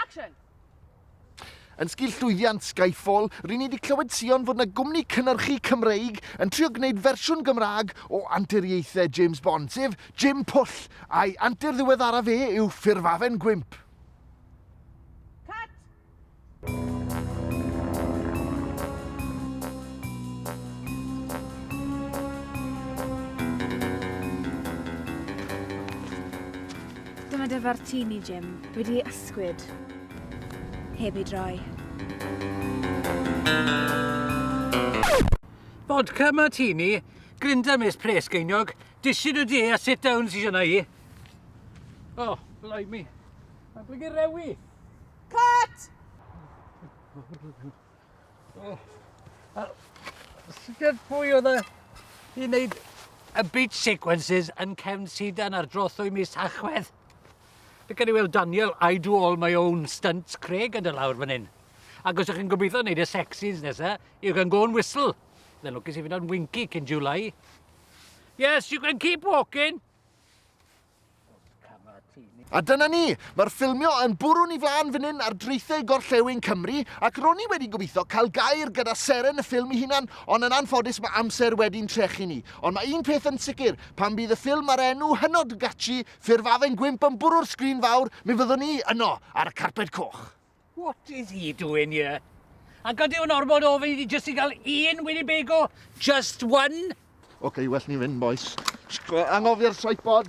Action! Yn sgil llwyddiant Skyfall, ry'n ni wedi clywed sïon fod yna gwmni cynhyrchu Cymreig yn trio gwneud fersiwn Gymraeg o anturiaethau James Bond, sef Jim Pwll, a'i antur ddiweddaraf e yw Ffurfafen Gwymp. Dyma dy fartini, Jim. Wedi ei ysgwyd. Heb ei droi. Vodka martini, grinder mis pres geiniog, dishyn y de a sit down sy'n yna i. O, blimey. Mae'n blygu rewi. Cut! Oh. Uh, Sut pwy oedd e i wneud y beach sequences yn cefn sidan ar drothwy mis Tachwedd? Fe gen i weld Daniel, I do all my own stunts, Craig yn dy lawr fan hyn. Ac os ych chi'n gobeithio wneud y sexys nesa, you can go and whistle. Then lwcus i fynd o'n winky cyn July. Yes, you can keep walking. A dyna ni! Mae'r ffilmio yn bwrw ni flan fan hyn ar draethau gorllewin Cymru, ac ro'n i wedi gobeithio cael gair gyda seren y ffilm ei hunan, ond yn anffodus mae amser wedi'n trechu ni. Ond mae un peth yn sicr, pan fydd y ffilm a'r enw hynod gatshi, Ffurfafen Gwymp yn bwrw'r sgrin fawr, mi fyddwn i yno, ar y carped coch! What is he doing here? Ac ydy o'n ormod o ofyn i ti jyst i gael un Winnebago? Just one? Oce, okay, well ni fynd, boys. Angofi'r tripod.